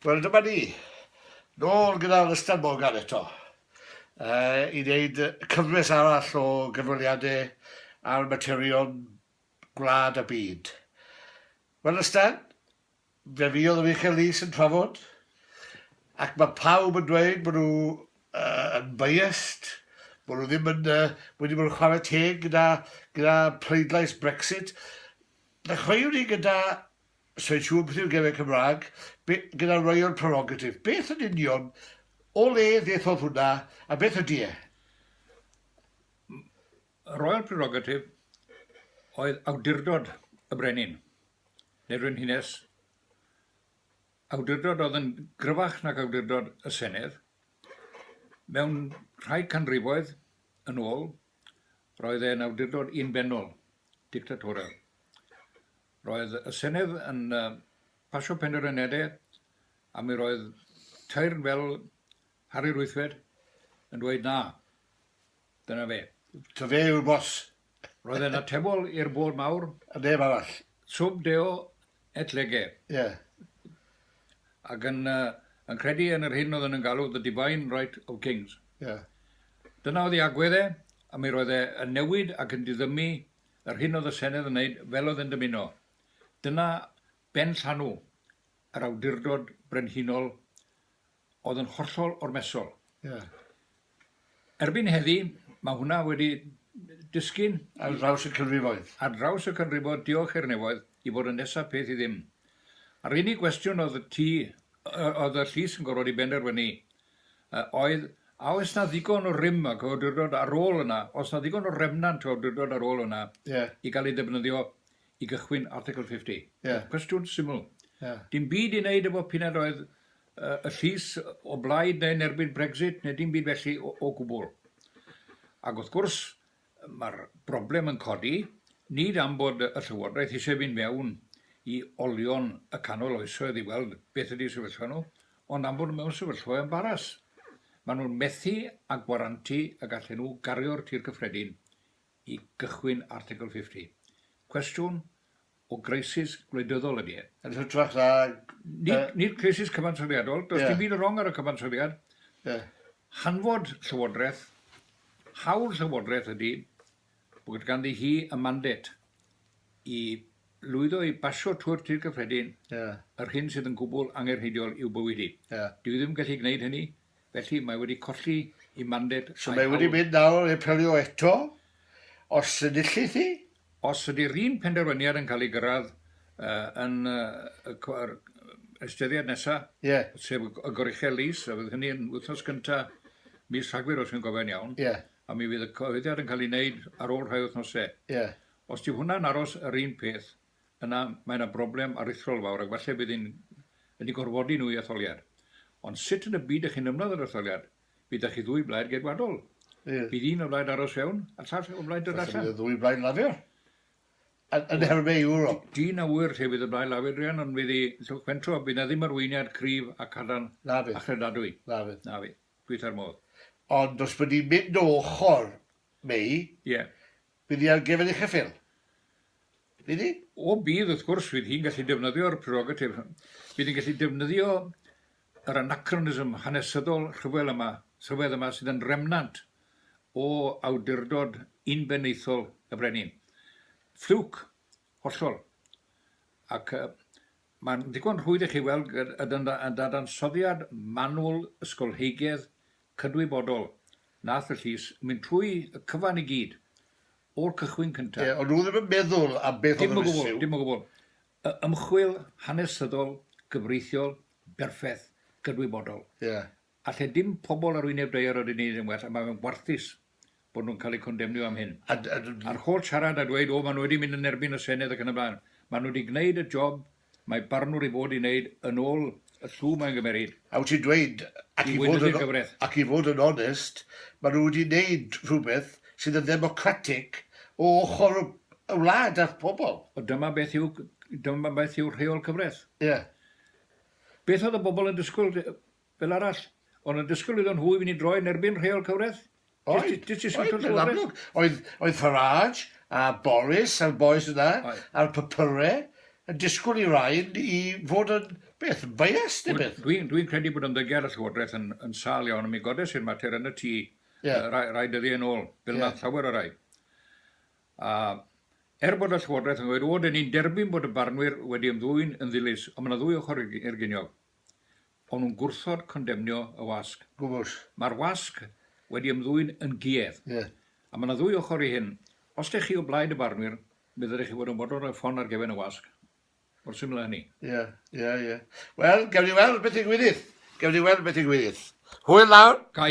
Wel dyma ni, nôl gyda'r Ystad Morgan eto uh, i wneud cyfres arall o gynweliadau ar materion gwlad a byd. Wel Ystad, fe fi oedd y Michael Lees yn trafod, ac mae pawb yn dweud bod nhw uh, yn biased, bod nhw ddim yn, uh, wedi bod yn chwarae teg gyda, gyda pleidlais Brexit. Ddechreuwn ni gyda Sir Siôn Prif Gefn Cymraeg, be, gyda Royal Prerogative, beth yn union, o le ddethodd hwnna, a beth ydy e? Royal Prerogative oedd awdurdod y brenin, neu'r frenhines, awdurdod oedd yn gryfach nag awdurdod y Senedd. Mewn rhai canrifoedd yn ôl, roedd e'n awdurdod unbenol, dictatorial. Roedd y Senedd yn pasio penderfyniadau a mi roedd teyrn fel Harri Rwythfed yn dweud na. Dyna fe. Ta fe yw'r boss. Roedd e'n atebol i'r bôd mawr. A neb arall. Sub deo et lege. Ie. Yeah. Ac yn, uh, yn credu yn yr hyn oedd yn galw the divine right of kings. Ie. Yeah. Dyna oedd ei agwedd e, a mi roedd e yn newid ac yn diddymu Yr hyn oedd y Senedd yn wneud fel oedd yn dymuno. Dyna benllanw yr awdurdod brenhinol oedd yn hollol ormesol. Ie. Erbyn heddi, mae hwnna wedi disgyn... Ar draws y canrifoedd. Ar draws y canrifoedd, diolch i'r nefoedd, i fod yn nesa peth i ddim. A'r unig gwestiwn oedd y tŷ, oedd y llys yn gorfod ei benderfynu A oedd, a oes 'na ddigon o rym ac awdurdod ar ôl yna, oes 'na ddigon o remnant o awdurdod ar ôl yna i gael ei ddefnyddio i gychwyn Article 50? Cwestiwn syml. Dim byd i wneud efo p'un a oedd y llys o blaid neu yn erbyn Brexit neu dim byd felly o gwbl. Ac wrth gwrs, Mae'r broblem yn codi, nid am bod y Llywodraeth eisiau fynd mewn i olion y canol oesoedd i weld beth ydy'u sefyllfa nhw, ond am fod nhw mewn sefyllfa o embaras. Maen nhw'n methu â gwarantu y gallen nhw gario'r tir cyffredin i gychwyn Article 50. Cwestiwn, o greisis gwleidyddol ydy e. Yn hytrach na... Nid creisis cyfansoddiadol, does dim byd yn wrong ar y cyfansoddiad. Hanfod Llywodraeth, hawl Llywodraeth ydy bod ganddi hi y mandate i lwyddo i basio trwy'r Tŷ Cyffredin yr hyn sydd yn gwbl angenrheidiol i'w bywyd hi. Dyw hi ddim yn gallu gwneud hynny Felly, mae wedi colli ei manded a'i hawl. So mae wedi mynd nawr i apelio eto, os enillith hi? Os ydy'r un penderfyniad yn cael ei gyrraedd yn yr estyniad nesaf, sef y goruchel lys, a fydd hynny yn wythnos gyntaf mis Rhagfyr, os dwi'n gofio'n iawn, a mi fydd y cyhoeddiad yn cael ei wneud ar ôl rhai wythnosau. Os dyw hwnna'n aros yr un peth, yna mae yna broblem aruthrol fawr ac falle bydd yn yn eu gorfodi nhw i etholiad. Ond sut yn y byd ych chi'n ymladd yr etholiad? Bydd 'da chi ddwy blaid geidwadol. Ie. Bydd un o blaid aros fewn a'r llall o blaid dod allan. Falle bydd y ddwy blaid Lafur yn, yn herwne Ewrop. Dyn a ŵyr lle fydd y blaid Lafur, Rhian, ond fydd i Llwch Pentro, bydd na ddim arweiniad cryf a cadarn na fydd. a chredadwy. Na fydd. Na fydd. Dwytha'r modd. Ond os bydd ni'n mynd o ochr May, yeah. Bydd hi ar gyfer eich ffil. Bydd hi? O, bydd, wrth gwrs, fydd hi'n gallu defnyddio'r prerogatif. Bydd hi'n gallu defnyddio yr anachronism hanesyddol rhyfel yma, rhyfedd yma sydd yn remnant o awdurdod unbenaethol y Brenin. Ffliwc, hollol. Ac Mae'n ddigon rhwydd i chi weld y dadansoddiad manwl ysgolheigedd cydwybodol nath y llys mynd trwy y cyfan i gyd, o'r cychwyn cynta. Ie, ond nhw ddim yn meddwl am beth oedd yr issue. Dim o gwbl, dim o gwbl. Ymchwil hanesyddol, gyfreithiol, berffeth, gydwybodol. Ie. Alle dim pobl ar wyneb daear yr uniaid yn well a mae fe'n warthus bod nhw'n cael eu condemnio am hyn. A'r holl siarad a dweud 'o, maen nhw wedi mynd yn erbyn y Senedd' ac yn y blaen. Maen nhw wedi gwneud y job mae barnwr i fod i wneud yn ôl y llw mae'n gymeryd. A wyt ti'n dweud, ac i fod yn onest, maen nhw wedi wneud rhywbeth sydd yn ddemocratig o ochr y wlad a'r pobl. Ond dyma beth yw rheol cyfraith. Ie. Beth oedd y bobl yn disgwyl fel arall, ond yn disgwyl iddon nhw i fynd i droi yn erbyn rheol cyfraith? Oedd, oedd, yn amlwg. Oedd, oedd Farage a Boris a'r bois yna, a'r papyrau, yn disgwyl i rain i fod yn, beth, yn biased neu beth? Dwi, dwi'n credu bod ymddygiad y Llywodraeth yn, yn sâl iawn, a mi godes i'r mater yn y tŷ yeah. uh, rai, rai dyddiau yn ôl, fel yeah. llawer o rai. A er bod y Llywodraeth yn gweud, o, dyn ni'n derbyn bod y barnwyr wedi ymddwyn yn ddilys, ond mae yna ddwy ochr i'r giniog. O'n nhw'n gwrthod condemnio y wasg. Gwbl. Mae'r wasg wedi ymddwyn yn guedd. Ie. A mae 'na ddwy ochr i hyn. Os dych chi o blaid y barnwyr, mi ddylech chi fod yn fodlon rhoi ffon ar gefn y wasg. Mor syml â hynny. Ie, ie, ie. Wel, gewn ni weld beth ddigwyddith. Gewn ni weld beth ddigwyddith. Hwyl nawr. Cai,